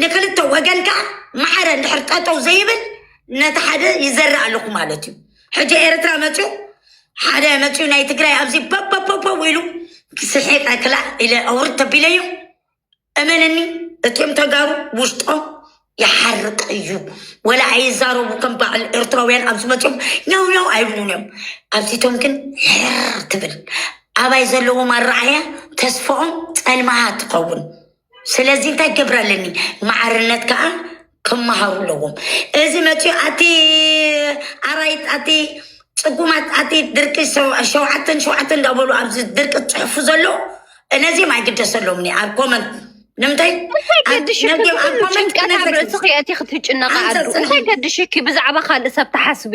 ንክልተ ወገን ከዓ ማዕረ እንድሕር ጠጠው ዘይብል ነቲ ሓደ ይዘርእ ኣለኹ ማለት እዩ ሕጂ ኤርትራ መፅኡ ሓደ መፅኡ ናይ ትግራይ ኣብዚ በበበበ ኢሉ ስሒቀ ክላእ ኢለ ኣውርድ ተቢለዮ እመነኒ እትም ተጋሩ ውሽጦም ይሓርቅ እዩ ወላ ኣይዛረቡ ከም በዓል ኤርትራውያን ኣብዚ መፅኦም ኛው ኛው ኣይብሉን እዮም ኣብዚቶም ግን ሕር ትብል ኣባይ ዘለዎም ኣረኣያ ተስፋኦም ፀልማሃ ትኸውን ስለዚ እንታይ ክገብር ኣለኒ ማዕርነት ከዓ ክመሃሩ ኣለዎም እዚ መፅኡ ኣቲ ኣራይት ኣቲ ፅጉማት ኣቲ ድርቂ ሰው- ሸውዓተን ሸውዓተን እንዳበሉ ኣብዚ ድርቂ ዝፅሕፉ ዘሎ እነዚም ኣይግደሰሎምኒ ኣብ ኮመንት ንምንታይ እንታይ ገድሽኪ ነዚም ኣብ ኩሉ ኮመንት ጭንቀት ኣብ ክነዘግ- ርእስኺ ኣቲ ክትጭነቂ ኣንተ ኣሉ ፅንሒ- እንታይ ገድሽኪ ብዛዕባ ካልእ ሰብ ትሓስቢ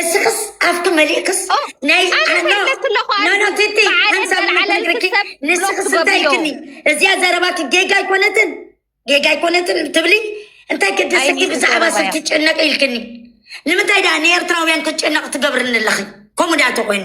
እስክስ ኣብቲ መሊእክስ ናይ ንስክስ እንታይ ኢልክኒ እዚያ ዘረባኪ ጌጋ ኣይኮነትን ጌጋ ኣይኮነትን ትብሊ እንታይ ክድስኪ ብዛዕባ ሰብ ትጨነቂ ኢልክኒ ንምንታይ ደኣ ንኤርትራውያን ክጨነቕ ትገብርኒ ኣለኺ ከምኡ ደኣ ተኮይኑ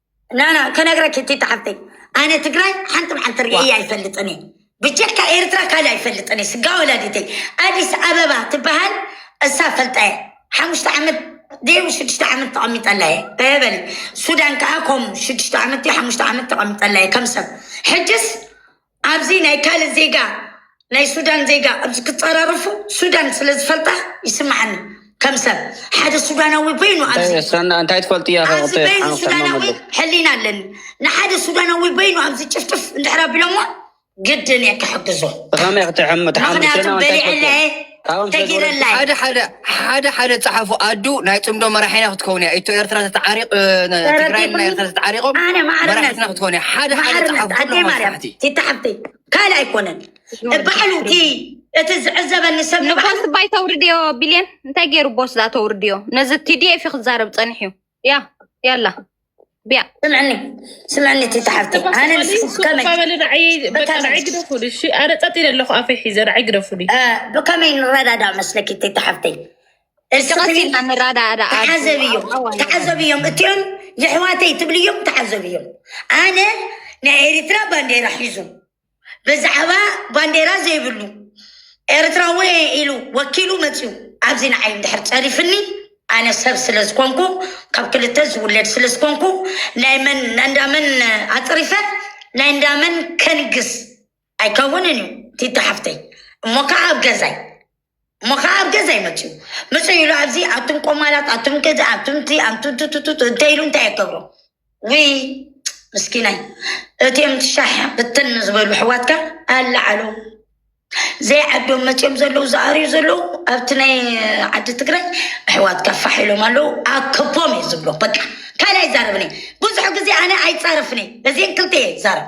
ናና ከነግረኪ ቲቲ ሓፍተይ ኣነ ትግራይ ሓንቲ መዓልቲ ርእየ ኣይፈልጥን እየ ብጀካ ኤርትራ ካልእ ኣይፈልጥን እየ ስጋ ወላዲተይ ኣዲስ ኣበባ ትበሃል እሳ ፈልጣ እየ ሓሙሽተ ዓመት ደይቡ ሽዱሽተ ዓመት ተቐሚጠላ እየ በበሊ ሱዳን ከዓ ከምኡ ሽዱሽተ ዓመት ሓሙሽተ ዓመት ተቐሚጠላ እየ ከም ሰብ ሕጅስ ኣብዚ ናይ ካልእ ዜጋ ናይ ሱዳን ዜጋ ኣብዚ ክጸራረፉ ሱዳን ስለ ዝፈልጣ ይስምዓኒ ከም ሰብ ሓደ ሱዳናዊ በይኑ ኣብዚ እየ ሰና እንታይ ትፈልጥ እያ ኣብዚ ከቅጠ በይኑ ሓንክ ሱዳናዊ ተማመሉ ሕሊና ኣለኒ ንሓደ ሱዳናዊ በይኑ ኣብዚ ጭፍጭፍ እንድሕር ኣቢሎሞ ግድን እየ ክሕግዞ ብኸመይ ክትሕም ትሓምሉ ሰና ምክንያቱም እንታይ በሊዐላ ትፈልጥ እየ ሓደ ሓደ ሓደ ሓደ ጸሓፉ ኣዱ ናይ ጽምዶ መራሒና ክትከውን እያ ኢትዮ ኤርትራ ተተዓሪቕ ትግራይ ናይ ኤርትራ ተተዓሪቖም መራሒትና ክትከውን እያ ሓደ ሓደ ጸሓፉ ኩሎም ኣስራሕቲ ትታሓብቲ ካልእ ኣይኮነን ባዕሉ እቲ እቲ ዝዕዘበኒ ሰብ ንባዕሉ ንቦስ ባይ ተውርድዮ ቢልየን እንታይ ገይሩ ቦስ ዳ ተውርድዮ ነዚ ቲዲኤፍ ክዛረብ ጸኒሑ እዩ ያ ያላ ቢያ ስምዕኒ ስምዕኒ እቲ ተሓፍቲ ኣነ ንስከመይብከመይ ግደፉሉ እሺ ኣነ ፀጥ ኢለ ኣለኹ ኣፈይ ሒዘ ንዓይ ግደፉሉ ብከመይ ንረዳዳ መስለኪ እቲ ተሓፍተይ ተዓዘብዮም ተዓዘብዮም እትኦም የሕዋተይ ትብልዮም ተዓዘብዮም ኣነ ናይ ኤርትራ ባንዴራ ሒዙ ብዛዕባ ባንዴራ ዘይብሉ ኤርትራዊ እየ ኢሉ ወኪሉ መጺኡ ኣብዚ ንዓይ እንድሕር ጸሪፍኒ ኣነ ሰብ ስለ ዝኾንኩ ካብ ክልተ ዝውለድ ስለ ዝኾንኩ ናይ መን ናይ እንዳመን ኣጽሪፈ ናይ እንዳመን ከንግስ ኣይከውንን እዩ ቲታ ሓፍተይ እሞ ከዓ ኣብ ገዛይ እሞ ከዓ ኣብ ገዛ ይመፅኡ ምፅ ኢሉ ኣብዚ ኣቱም ቆማላት ኣቱም ገዛ ኣቱምቲ ኣንቱቱቱቱ እንታይ ኢሉ እንታይ የገብሮ ውይ ምስኪናይ እትም ትሻሕ ብትን ዝበሉ ሕዋትካ ኣለዓሉ ዘይዓዶም መፅኦም ዘለዉ ዝኣርዩ ዘለዉ ኣብቲ ናይ ዓዲ ትግራይ ኣሕዋትካ ፋሕ ኢሎም ኣለዉ ኣከቦም እዩ ዝብሎ በቃ ካልኣይ ዛረብኒ ብዙሕ ግዜ ኣነ ኣይፃረፍኒ እዚን ክልተ እየ ዛረብ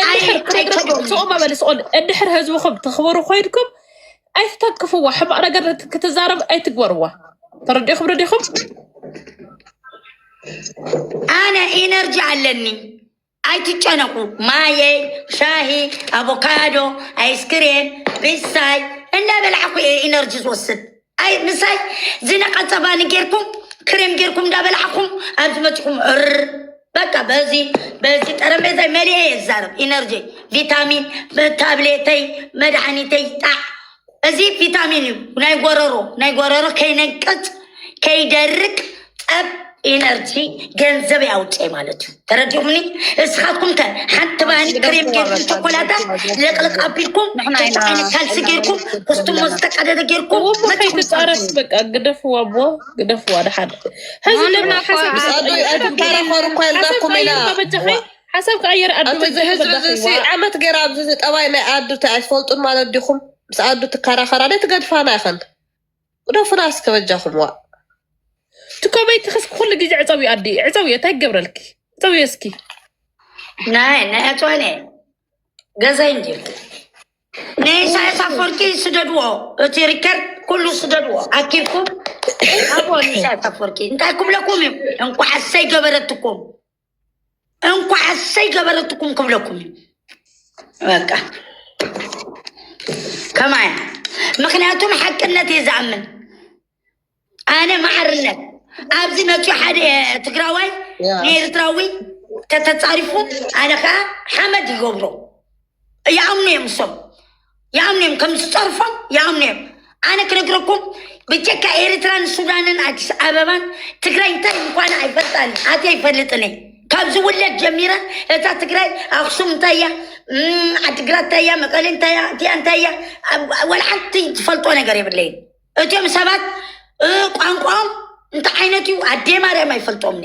እንድሕር ኣይ- ፕሮግረስ ኣይከብርን እዩ ተውፅኦ ማለት መበልስኦን እንድሕር ህዝብኹም ተኽብሩ ኮይንኩም ኣይትተንክፍዋ ሕማቕ ነገር ነት- ክትዛረብ ኣይትግበርዋ ተረዲኹም ረዲኹም ኣነ ኢነርጂ ኣለኒ ኣይትጨነቁ ማየይ ሻሂ ኣቮካዶ ኣይስክሬም ብሳይ እንዳበላዕኩ እየ ኢነርጂ ዝወስድ ኣይ ምሳይ ዝነቐጸ ባኒ ጌርኩም ክሬም ጌርኩም እንዳበላዕኹም ኣብ ዝመፅኹም እር በቃ በዚ በዚ ጠረጴዛ መሊአ እየ ዝዛረብ ኢነርጂ ቪታሚን ታብሌተይ መድሓኒተይ ጣዕ እዚ ቪታሚን እዩ ናይ ጎረሮ ናይ ጎረሮ ከይነቅፅ ከይደርቅ ጠብ ኤነርጂ ገንዘብ ያውጨ ማለት እዩ ተረዲኡምኒ እስኻትኩም ከ ሓንቲ ባህሊ ክሬም ጌርኩም ቸኮላታ ለቅለቅ ኣቢልኩም ክልተ ዓይነት ካልሲ ጌርኩም ኮስቱሞ ዝተቀደደ ጌርኩም መፂኹም ፃረስ በቃ ግደፍዋ ኣቦ ግደፍዋ ድሓደ ሕዚ ድማ ሓሳብ ኣዶይ ኣድም ተራኸሩ እኮ ያልዛኩም ኢና በጃኺ ሓሳብ ክኣየር ኣዱ ኣቲ እዚ ህዝቢ እዚ ሲ በጃኺዋ ዓመት ገይራ ኣብዚ እዚ ጠባይ ናይ ኣዱ እንታይ ኣይትፈልጡን ማለት ዲኹም ምስ ኣዱ ትከራኸራ ደ ትገድፋና ይኸን ግደፉና እስከ በጃኹም ዋእ። እቲ ኮመይቲ ክስ ኩሉ ግዜ ዕፀው እዩ ኣዲ ዕፀው እዩ እንታይ ክገብረልኪ ዕፀው እዩ እስኪ ናይ ናይ ኣፅዋኔ ገዛይ እንጂ ናይ ኢሳያስ ኣፈወርቂ ስደድዎ እቲ ሪከርድ ኩሉ ስደድዎ ኣኪብኩም ኣብዎ ንኢሳያስ ኣፈወርቂ እንታይ ክብለኩም እዩ እንኳዕ ኣሰይ ገበረትኩም እንኳ ኣሰይ ገበረትኩም ክብለኩም እዩ በቃ ከማያ ምክንያቱም ሓቅነት እየ ዝኣምን ኣነ ማዕርነት ኣብዚ መፅዮ ሓደ ትግራዋይ ንኤርትራዊ ከተፃሪፉ ኣነ ከዓ ሓመድ ይገብሮ ይኣምኑ እዮም እሶም ይኣምኑ እዮም ከም ዝፀርፎም ይኣምኑ እዮም ኣነ ክነግረኩም ብጀካ ኤርትራን ሱዳንን ኣዲስ ኣበባን ትግራይ እንታይ ምኳነ ኣይፈልጣን ኣት ኣይፈልጥን እየ ካብ ዝውለድ ጀሚረ እታ ትግራይ ኣክሱም እንታይ እያ እም፣ ዓዲግራት እንታይ እያ መቀሌ እንታይ እያ እቲኣ እንታይ እያ ኣብ- ወላ ሓንቲ ዝፈልጦ ነገር የብለይን እትም ሰባት እ፣ ቋንቋኦም እንታይ ዓይነት እዩ ኣዴ ማርያም ኣይፈልጦምኒ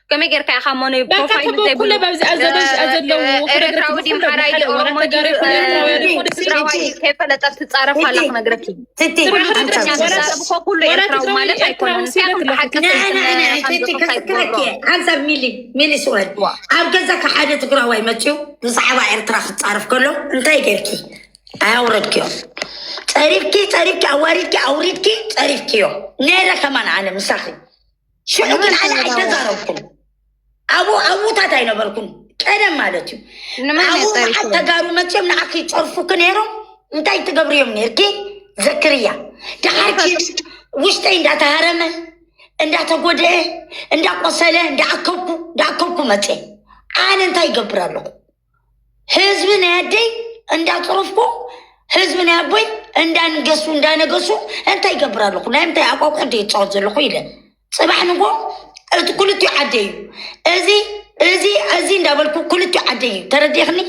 ከመይ ጌርካ ኢኻ ሞኖ ፕሮፋይል ዘይብሉ ኤርትራዊ ድዩ ሓራ ኢዩ ኦሮሞ ትግራዋይ ከይፈለጠት ትፃረፍ ኣላ ክነግረኪ ኩሉ ኤርትራዊ ማለት ኣይኮነን ሓንሳብ ሚሊ ሚሊ ስወድ ኣብ ገዛካ ሓደ ትግራዋይ መፅኡ ብዛዕባ ኤርትራ ክፃረፍ ከሎ እንታይ ጌርኪ ኣያውረድክዮ ፀሪፍኪ ፀሪፍኪ ኣዋሪድኪ ኣውሪድኪ ፀሪፍክዮ ነረ ከማን ኣነ ምሳኺ ሽዑ ግን ኣነ ኣይተዛረብኩም ኣብ ኣብታት ኣይነበርኩም ቀደም ማለት እዩ ኣብኡ መዓት ተጋሩ መፅኦም ንዓኪ ይፀርፉኪ ነይሮም እንታይ ትገብሪ እዮም ነርኪ ዘክርያ ድሓር ውሽጠይ እንዳተሃረመ እንዳተጎድአ እንዳቆሰለ እንዳኣከብኩ እንዳኣከብኩ መፅአ ኣነ እንታይ ይገብር ኣለኹ ህዝቢ ናይ ኣደይ እንዳፅረፍኩ ህዝቢ ናይ ኣቦይ እንዳንገሱ እንዳነገሱ እንታይ ይገብር ኣለኹ ናይ ምንታይ ኣቋቁ ዶ ይፃወት ዘለኹ ኢለ ፅባሕ ንጎ እቲ ክልቲኡ ዓደ እዩ እዚ እዚ እዚ እንዳበልኩ ክልቲኡ ዓደ እዩ ተረዲኽኒ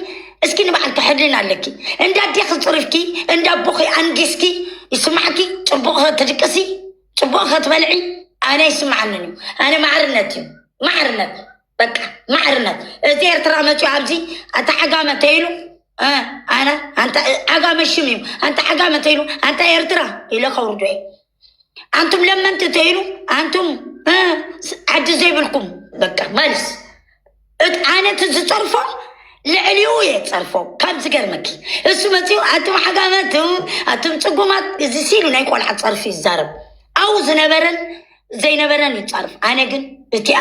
እስኪ ንባዕልኪ ሕልና ኣለኪ እንዳ ኣዴኺ ፅሪፍኪ እንዳ ኣቦኺ ኣንጊስኪ ይስማዕኪ ፅቡቕ ትድቅሲ ፅቡቕ ክትበልዒ ኣነ ይስማዓንን እዩ ኣነ ማዕርነት እዩ ማዕርነት በቃ ማዕርነት እዚ ኤርትራ መፅዮ ኣብዚ ኣንተ ዓጋመ እንተይሉ ኣነ ኣንተ ዓጋመ ሽም እዩ ኣንተ ዓጋመ እንተይሉ ኣንተ ኤርትራ ኢለ ከውርዶ እየ ኣንቱም ለመንቲ እንተይሉ ኣንቱም ዓዲ ዘይብልኩም በቃ መልስ ኣነት ዝፀርፎ ልዕሊኡ እየ ፀርፎ ካብ ዝገርመኪ እሱ መፅኡ ኣቱም ዓጋመ ኣቱም ፅጉማት እዚ ሲሉ ናይ ቆልዓ ፀርፊ ይዛረብ ኣው ዝነበረን ዘይነበረን ይፃርፍ ኣነ ግን እቲኣ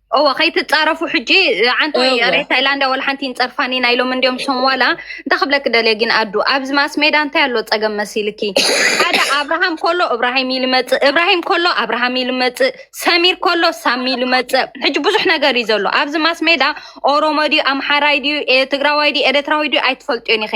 እወ ከይትፃረፉ ሕጂ ዓንቶ እወ። ሬ ታይላንዳ ወላ ሓንቲ ይንፀርፋኒ ናይ ሎም እንዲዮም ሶም ዋላ እንታይ ክብለኪ ደልየ ግን ኣዱ ኣብዚ ማስ ሜዳ እንታይ ኣሎ ፀገም መሲልኪ ሓደ ኣብርሃም ከሎ እብራሂም ኢሉ መፅእ እብራሂም ከሎ ኣብርሃም ኢሉ መፅእ ሰሚር ከሎ ሳሚ ኢሉ መፅእ ሕጂ ብዙሕ ነገር እዩ ዘሎ ኣብዚ ማስ ሜዳ ኦሮሞ ድዩ ኣምሓራይ ድዩ ኤ- ትግራዋይ ድዩ ኤረትራዊ ድዩ ኣይትፈልጥዮን ኢኺ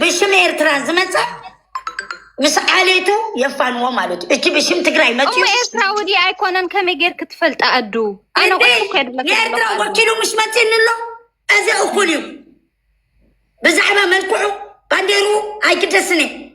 ብሽም ኤርትራ ዝመፀ ምስ ዓሌቱ የፋንዎ ማለት እዩ። እቲ ብሽም ትግራይ መፅኡ እሞ ኤርትራዊ ድዩ ኣይኮነን ከመይ ጌርክ ትፈልጣ ኣዱ ኣነ እንዴ ቆልኩ ከድለክ ንኤርትራ ኣለኹ ኣዱ ወኪሉ ምስ መፅኒ ኣሎ እዚ እኩል እዩ። ብዛዕባ መልክዑ ባንዴሩ ኣይግደስን እዩ።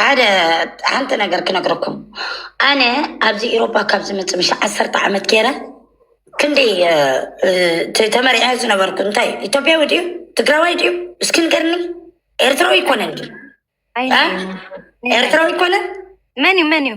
ሓደ ሓንቲ ነገር ክነግረኩም ኣነ ኣብዚ ኤሮፓ ካብ ዝመፅእ ምሽ ዓሰርተ ዓመት ገይረ ክንደይ እ፣ እ፣ ተ- ተመሪዐ ዝነበርኩ እንታይ ኢትዮጵያዊ ድዩ ትግራዋይ ድዩ እስኪ ንገርኒ ኤርትራዊ ይኮነን ድዩ ኣይ እ? ናይ- ናይ- ኤርትራዊ ይኮነን መን እዩ መን እዩ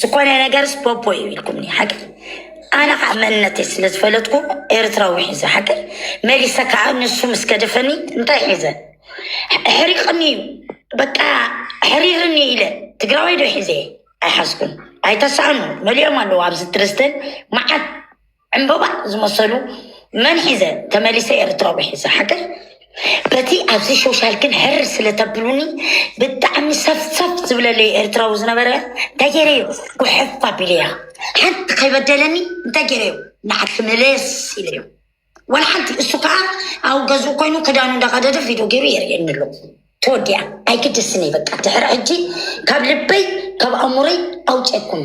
ዝኾነ ነገርስ ፖፖ እዩ ኢልኩምኒ ሓቂ ኣነ ከዓ መንነተይ ስለ ዝፈለጥኩ ኤርትራዊ ሒዘ ሓቂ መሊሰ ከዓ ንሱ ምስ ገደፈኒ እንታይ ሒዘ ሕሪቕኒ እዩ በቃ ሕሪርኒ ኢለ ትግራዋይ ዶ ሒዘ ኣይሓዝኩን ኣይተሳእኑ መሊኦም ኣለዉ ኣብዚ ትርዝተን መዓት ዕንበባ ዝመሰሉ መን ሒዘ ተመሊሰ ኤርትራዊ ሒዘ ሓገር በቲ ኣብዚ ሾሻል ግን ሕር ስለተብሉኒ ብጣዕሚ ሰፍሰፍ ዝብለለይ ኤርትራዊ ዝነበረ እንታይ ገይረ እዩ ጉሕፍ ኣቢለያ ሓንቲ ከይበደለኒ እንታይ ገይረ እዩ ንዓዲ መለስ ኢለ እዩ ወላ ሓንቲ እሱ ከዓ ኣብ ገዝኡ ኮይኑ ክዳኑ እንዳቀደደ ቪድዮ ገይሩ የርእየኒ ኣሎ ተወዲያ ኣይግድስን እዩ በቃ ድሕሪ ሕጂ ካብ ልበይ ካብ ኣእሙረይ ኣውፅኩም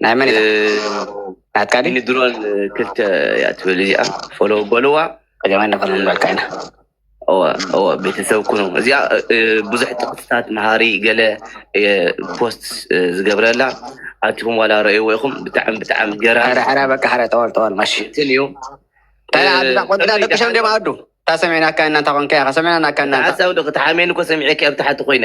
ናይ መን ኢኻ ናትካ ድዩ ንድሮን ክልተ እያ ትብል እዚኣ ፎሎ በልዋ ቀዳማይ ነበር ምንባልካ ኢና እወ እወ ቤተሰብ ኩኑ እዚኣ እ፣ ብዙሕ ጥቅስታት መሃሪ ገለ እ፣ ፖስት እ፣ ዝገብረላ ኣትኹም ዋላ ረእይዎ ኢኹም ብጣዕሚ ብጣዕሚ ሕረ ገራሚ ሕረ በቃ ሕረ ጠወል ጠወል ማሽ እንትን እዩ እንታይ ደኣ ኣዱ እዛ ቆንጆ ደኣ ደቂ ሸም ድዮም ኣዱ እንታይ ሰሚዕናካ ኢና እንታይ ኮንካ ኢኻ ሰሚዕናካ ኢና እንታይ ሓሳብ ዶ ክትሓሜን እኮ ሰሚዐኪ ኣብ ታሕቲ ኮይነ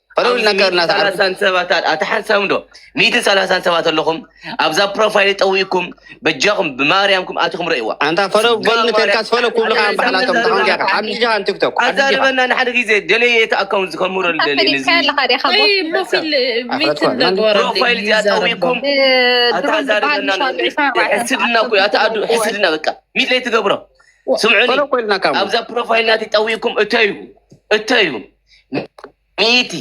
ሰላሳን ሰባት ኣታ ሓንሳብ ዶ ሚእትን ሰላሳን ሰባት ኣለኹም ኣብዛ ፕሮፋይል ጠዊእኩም በጃኹም ብማርያምኩም ኣትኹም ረእዋ ኣንታ ፈሎ በሉ ተልካስ ፈሎ ኩብልካ ባሕላቶም ተኸንጃካ ሓድሻ ቲክቶክ ኣዛርበና ንሓደ ግዜ ደለየ እቲ ኣካውንት ዝከምረሉ ደልየፕሮፋይል እዚኣ ጠዊእኩም ኣታዛርበና ሕስድና ኩ ኣታ ኣዱ ሕስድና በቃ ሚት ለይ ትገብሮ ስምዑኒ ኣብዛ ፕሮፋይል ናት ጠዊእኩም እተዩ እተዩ ሚእቲ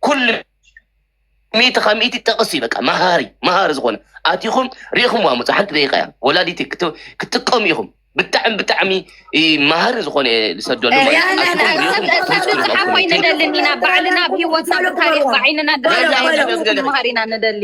ኩሉ ሚእቲ ካብ ሚእቲ ጠቕስ እዩ በቃ መሃሪ መሃሪ ዝኾነ ኣቲኹም ሪኢኹም ዋሙፅ ሓንቲ ደቂቃ እያ ወላዲቲ ክት- ክትጥቀሙ ኢኹም ብጣዕሚ ብጣዕሚ እ፣ መሃሪ ዝኾነ እየ ዝሰደሉ ማለት እዩ። ሪያና ኣቲኹም ናይ ሪኢኹም ሰብ ክሪስኩ ተብሉ ዝሓ ኮይነ ሪኢኹም ንደሊ ኢና ባዕልና ብሂወትና ብታሪክ ብዓይንና ደና ኢና ንደሊ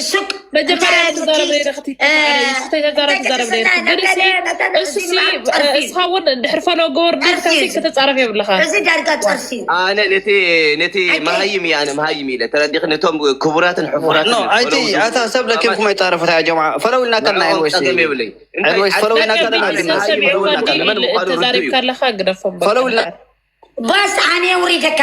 ሽቅ መጀመርያ ትዛረብ ነይረክቲ ተጋራ ትዛረብ ነይረክእስኻ እውን ድሕሪ ፈሎ ገበር ድርካሲ ከተፃረፍ የብልኻ እዚ ዳርጋ ጨርሲ ኣነ ነቲ ነቲ መሃይም እያ ኣነ መሃይም ኢለ ተረዲኽ ነቶም ክቡራትን ሕፉራት ኣይቲ ኣታ ሰብ ለኪምኩም ኣይፃረፉት ያ ጀምዓ ፈለው ኢልና ከና ወይስ የብለይ ወይስ ፈለው ኢልና ከና ተዛሪብካ ኣለካ ግደፎም ፈለው ኢልና ባስ ኣነ ውሪደካ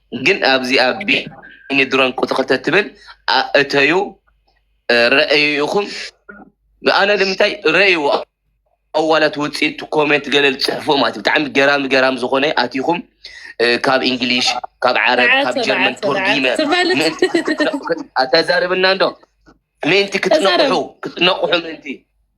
ግን ኣብዚኣ ቢኒ ድሮን ቁጽሪ ክልተ ትብል እተዩ ረኣዩ ኢኹም ኣነ ንምንታይ ረእይዎ ኣዋላት ውፅኢት ኮሜንት ገለ ዝፅሕፉ ማለት ብጣዕሚ ገራሚ ገራሚ ዝኾነ ኣቲኹም ካብ እንግሊሽ ካብ ዓረብ ካብ ጀርመን ቶርጊመ ኣተዛርብና እንዶ ምእንቲ ክትነቑሑ ክትነቑሑ ምእንቲ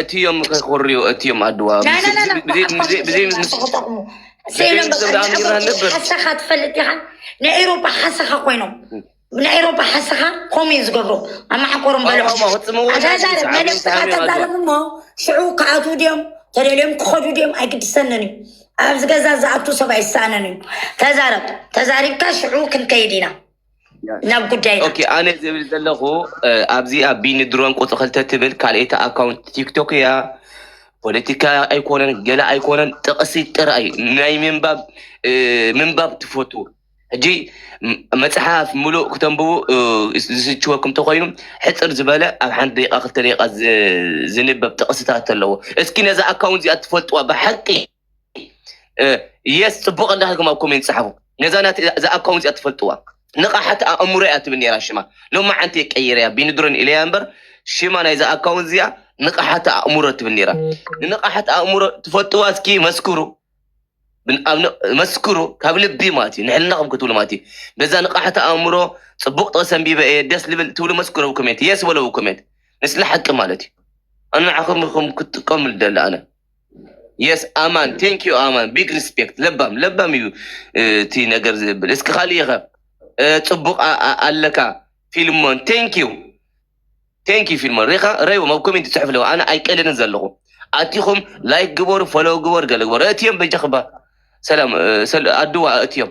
እትዮም ክርዩ እትዮም ኣድዋ ሓሳኻ ትፈልጥ ዲኻ ናይ ኤሮፓ ሓሳኻ ኮይኖም ናይ ኤሮፓ ሓሳኻ ከምኡ እዩ ዝገብሩ ኣማሓኮሮም በልዖምተዛረብ መደብስኻ ተዛረብ እሞ ሽዑ ክኣትዉ ድዮም ተደልዮም ክኸዱ ድዮም ኣይግድሰንን እዩ ኣብዚ ገዛ ዝኣቱ ሰብ ኣይሰኣንን እዩ ተዛረብ ተዛሪብካ ሽዑ ክንከይድ ኢና ናብ ጉዳይ ኦኬ ኣነ ዝብል ዘለኹ ኣብዚ ኣብ ቢኒ ድሮን ቁፅሪ ክልተ ትብል ካልኤታ ኣካውንት ቲክቶክ እያ ፖለቲካ ኣይኮነን ገለ ኣይኮነን ጥቕሲ ጥራይ ናይ ምንባብ ምንባብ ትፈቱ ሕጂ መፅሓፍ ሙሉእ ክተንብቡ ዝስችወኩም እንተኮይኑ ሕፅር ዝበለ ኣብ ሓንቲ ደቂቃ ክልተ ደቂቃ ዝንበብ ጥቕስታት ኣለዎ እስኪ ነዛ ኣካውንት እዚኣ ትፈልጥዋ ብሓቂ የስ ፅቡቅ እንዳሃልኩም ኣብ ኮሜንት ፀሓፉ ነዛ ናት እዛ ኣካውንት እያ ትፈልጥዋ ንቃሓት ኣእምሮ እያ ትብል ነራ ሽማ ሎማዓንቲ ቀይረ እያ ቢንድሮን ኢለያ እምበር ሽማ ናይዛ ኣካውንት እዚኣ ንቃሓት ኣእምሮ ትብል ነራ ንንቃሓት ኣእምሮ ትፈልጥዋ እስኪ መስክሩ ብን- ኣብ ን- መስክሩ ካብ ልቢ ማለት እዩ ንሕልናኹም ክትብሉ ማለት እዩ በዛ ንቃሓት ኣእምሮ ፅቡቅ ጥቕሲ ኣንቢበ እየ ደስ ልብል ትብሉ መስክሩ ኣብ ኮሜንት የስ በለው ኮሜንት ንስለ ሓቂ ማለት እዩ ኣናዓኹም ኢኹም ክትጥቀሙ ደለ ኣነ የስ ኣማን ቴንክ ዩ ኣማን ቢግ ሪስፔክት ለባም ለባም እዩ እ፣ እቲ ነገር ዝብል እስኪ ካልእ ይኸ እ፣ ፅቡቅ ኣ- ኣ- ኣለካ ፊልሞን ቴንክ ዩ ቴንክ ዩ ፊልሞን ሪኻ ረይዎም ኣብ ኮሜንት ይፅሕፍ ኣለዎ ኣነ ኣይቀልልን ዘለኹ ኣቲኹም ላይክ ግበሩ ፎሎው ግበሩ ገለ ግበሩ እትዮም በጃ ክባ ሰላም እ፣ ሰል- ኣድዋ እትዮም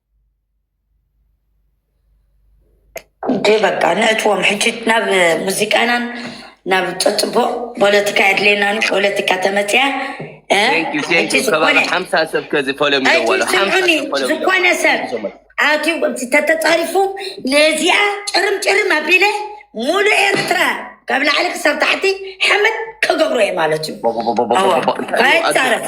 እንዴ በቃ ነእትዎም ሕጂ ናብ ሙዚቃናን ናብ ፅፅቡቅ ፖለቲካ የድልየናን እዩ ፖለቲካ ተመፅያ እ? ቴንክ ዩ ቴንክ ሕጂ ዩ ከባቢ ዝኾነ ሓምሳ ሰብ ከዚ ፎሎ ሕጂ ሚለዋሎ ሓምሳ ስምዑኒ ሰብ ፎሎ ዝኾነ ሰብ ሚለዋሎ ኣትዩ ተተፃሪፉ ነዚኣ ጭርም ጭርም ኣቢለ ሙሉእ ኤርትራ ካብ ላዕሊ ክሳብ ታሕቲ ሓመድ ክገብሮ እየ ማለት እዩ እወ ኣይፃረፍ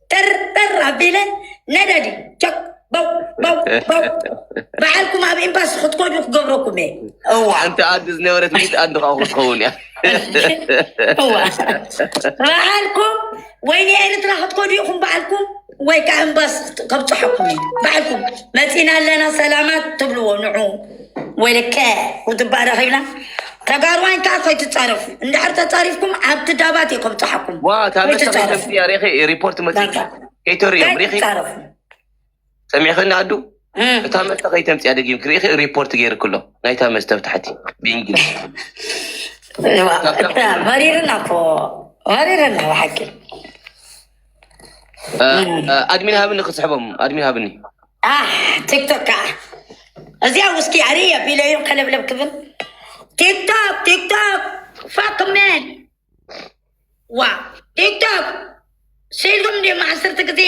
ጠርጠር ኣቢለ ነዳዲ ቸክ በው በው በው በዓልኩም ኣብ ኤምባሲ ክትኮዱ ክገብረኩም እየ እዋ ሓንቲ ኣዲ ዝነበረት ሚት ኣዲ ከዓ ክትኸውን እያ እዋ በዓልኩም ወይ ንኤርትራ ክትኮዱ ኢኹም በዓልኩም ወይ ከዓ ኤምባሲ ከብፅሐኩም እዩ በዓልኩም መፂና ኣለና ሰላማት ትብልዎ ንዑ ወይለከ ውድባእ ረኺብና ተጋሩዋይ ከኣ ኮይትጻረፉ እንድሕር ተጻሪፍኩም ኣብቲ ዳባት እየ ከብጽሓኩም ዋ እታ መሰኺ ከምቲ ኮይትጻረፉ እያ ሪኺ ሪፖርት መጺ በቃ ከይተርእዮም ሪኺ ከይትጻረፉ ሰሚዕኽኒ ኣዱ እም። እታ መስተ ከይተምፅያ ደጊም ክሪኢኺ ሪፖርት ገይርክሎ ናይታ መስተ ኣብ ታሕቲ ብእንግሊዝ እዋ፣ እታ መሪርና እኮ መሪርና ብሓቂ ኣድሚን ሃብኒ ክስሕቦም ኣድሚን ሃብኒ ቲክቶክ ከዓ እዚኣ ውስኪ ኣሪ ኣቢለ እዮም ከለብለብ ክብል ቲክቶክ ቲክቶክ ፋክመን ዋ ቲክቶክ ስኢልኩም እንዲም ዓሰርተ ግዜ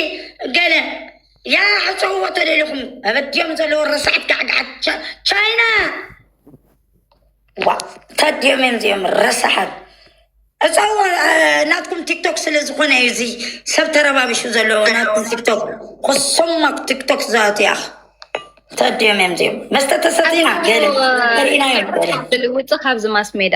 ገለ ያ ሕፀውዎ ተደሊኹም ኣበዲኦም ዘለዎ ረሳዕት ጋዕጋዓት ቻይና ታዲኦም እዮም እዚኦም ረሳሓት ዕፀዋ ናትኩም ቲክቶክ ስለ ዝኾነ እዩ እዚ ሰብ ተረባቢሹ ዘለዎ ናትኩም ቲክቶክ ኩሶማ ቲክቶክ ዝኣቱ እያ ታዲኦም እዮም እዚኦም መስተ ተሰቲና ገለ ርኢና እዮም ገለ ውፅእ ካብዚ ማስ ሜዳ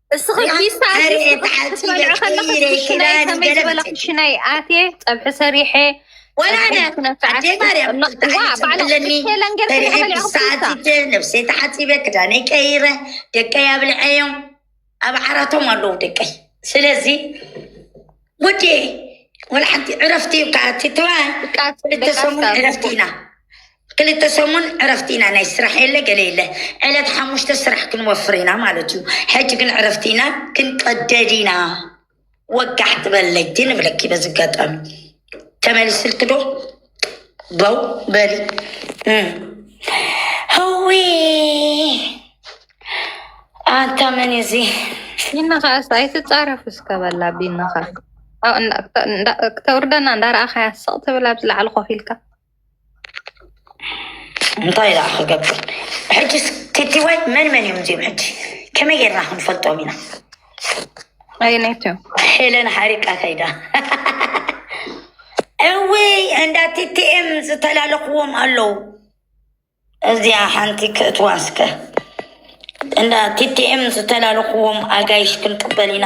እስኺ ፊስታ ክትበልዕ ከለኺ ክሽናይ ከመይ ዝበለ ክሽናይ ኣትየ ፀብሒ ሰሪሐ ወላነ ኣዴ ማርያም ኣለኒ ሰዓት ነብሰይ ተሓፂበ ክዳነይ ቀይረ ደቀይ ኣብልዐዮም ኣብ ዓራቶም ኣለዉ ደቀይ ስለዚ ወዴ ወላ ሓንቲ ዕረፍቲ እዩ ከዓ ትትባ ክልተ ሰሙን ዕረፍቲ ኢና ክልተ ሰሙን ዕረፍቲ ኢና ናይ ስራሕ የለ ገለ የለ ዕለት ሓሙሽተ ስራሕ ክንወፍር ኢና ማለት እዩ ሕጂ ግን ዕረፍቲ ኢና ክንቀደድ ኢና ወጋሕቲ በለይ ግን እብለኪ በዚ ኣጋጣሚ ተመሊስልኪ ዶ በው በሊ እም። ህዊ ኣንታ መን እዩ እዚ ቢንኻ እስ ኣይትፃረፍ እስከ በላ ቢንኻ ክተውርደና እንዳረኣኻያ ስቕ ትብል ኣብ ዝለዓል ኮፍ ኢልካ እንታይ ደኣ ክገብር ሕጂስ ቲቲዋይ መን መን እዮም እዚኦም ሕጂ ከመይ ጌርና ክንፈልጦም ኢና ኣይነይት እዮም ሄለን ሓሪቃ ከይዳ እዊ እንዳ ቲቲኤም ዝተላለኽዎም ኣለዉ እዚያ ሓንቲ ክእትዋ እስከ እንዳ ቲቲኤም ዝተላለኽዎም ኣጋይሽ ክንቅበል ኢና